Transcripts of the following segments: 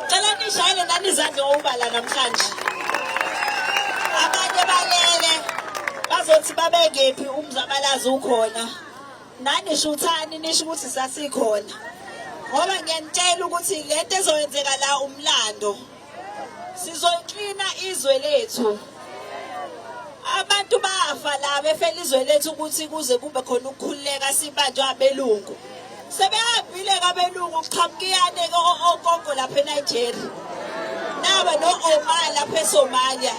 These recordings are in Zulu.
Cela nishayele nani izandla obala namhlanje. Abanye balele bazothi babekephi umzabalazi ukhona. Nani shuthani nisho ukuthi sasikhona. Ngoba ngiyanitshela ukuthi lento ezoyenzeka la umlando. Sizoklina izwe lethu. Abantu bafa la befela izwe lethu ukuthi kuze kube khona ukukhululeka sibanjwa abelungu. Sebehambile kabelungu kuqhamukiyane ogogo lapha eNigeria. Naba no Omar lapha eSomalia.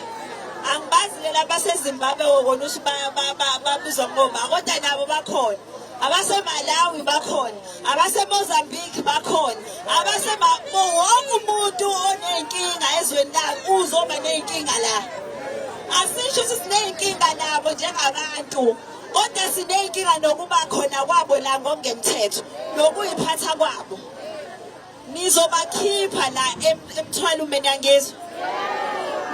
Angibazi lela baseZimbabwe wona uthi babizwa ngoma kodwa nabo bakhona. Abase Malawi bakhona. abasemozambique bakhona abasema wonke umuntu oney'nkinga ezweni lami uzoba ney'nkinga la asisho ukuthi siney'nkinga nabo njengabantu kodwa siney'nkinga nokuba khona kwabo la ngokungemthetho nokuyiphatha kwabo nizobakhipha la emthwalo mina ngiyangizwa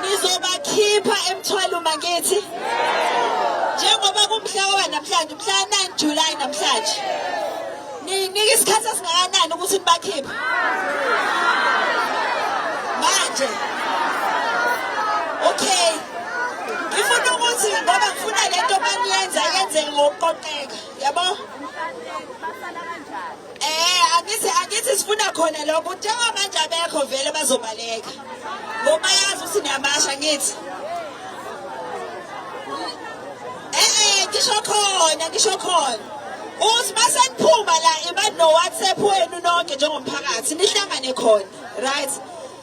nizobakhipha emthwalo mangithi njengoba kumhla wanamhlanje umhla 9 July namhlanje ninike isikhathi esingakanani ukuthi nibakhiphe manje okay ngifuna ukuthi ngoba ngifuna lento baniyenza yenzeke ngokuqoqeka yabo Eh angithi angithi sifuna khona lokho njengoba manje abekho vele bazobaleka. Ngoba yazi ukuthi niyabasha ngithi. Eh eh ngisho khona ngisho khona. Uthi maseniphuma la iba no WhatsApp wenu nonke njengomphakathi nihlangane khona. Right?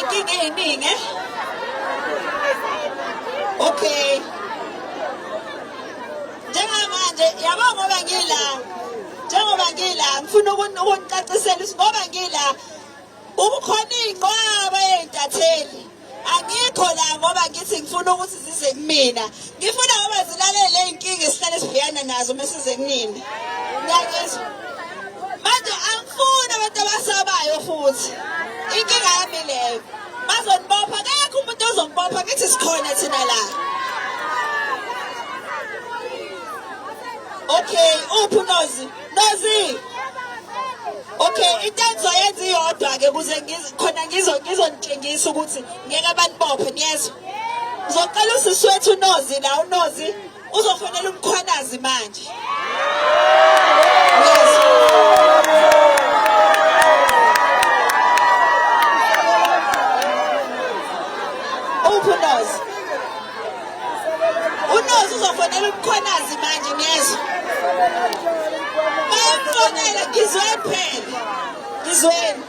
Inkinga eyiningi eh? Okay. Njengamanje yabo ngoba ngila njengoba ngila ngifuna ukunicacisela ukuthi ngoba ngila ubukhona iy'nqwaba ey'ntatheli angikho la ngoba ngithi ngifuna ukuthi zize kumina ngifuna ngoba zilalele iy'nkinga esihlale sibhekana nazo uma size kunina ngiyakuzwa manje angifuni abantu abasabayo futhi inkinga yami leyo bazonibopha kekho umuntu ozongibopha ngithi sikhona thina la okay uphi unozi Nazi. Okay, into engizoyenza iyodwa ke kuze khona ngizo ngizonitshengisa ukuthi ngeke banibophe niyezwa. Ngizocela usisi wethu uNozi la uNozi uzofonela umkhwanazi manje. unozi uzofonela umkhwanazi manje ngezwa mayemfonela ngizweni phela ngizweni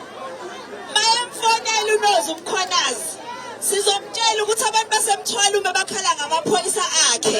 mayemfonela unozi umkhwanazi sizomtshela ukuthi abantu basemthwala uma bakhala ngamaphoyisa akhe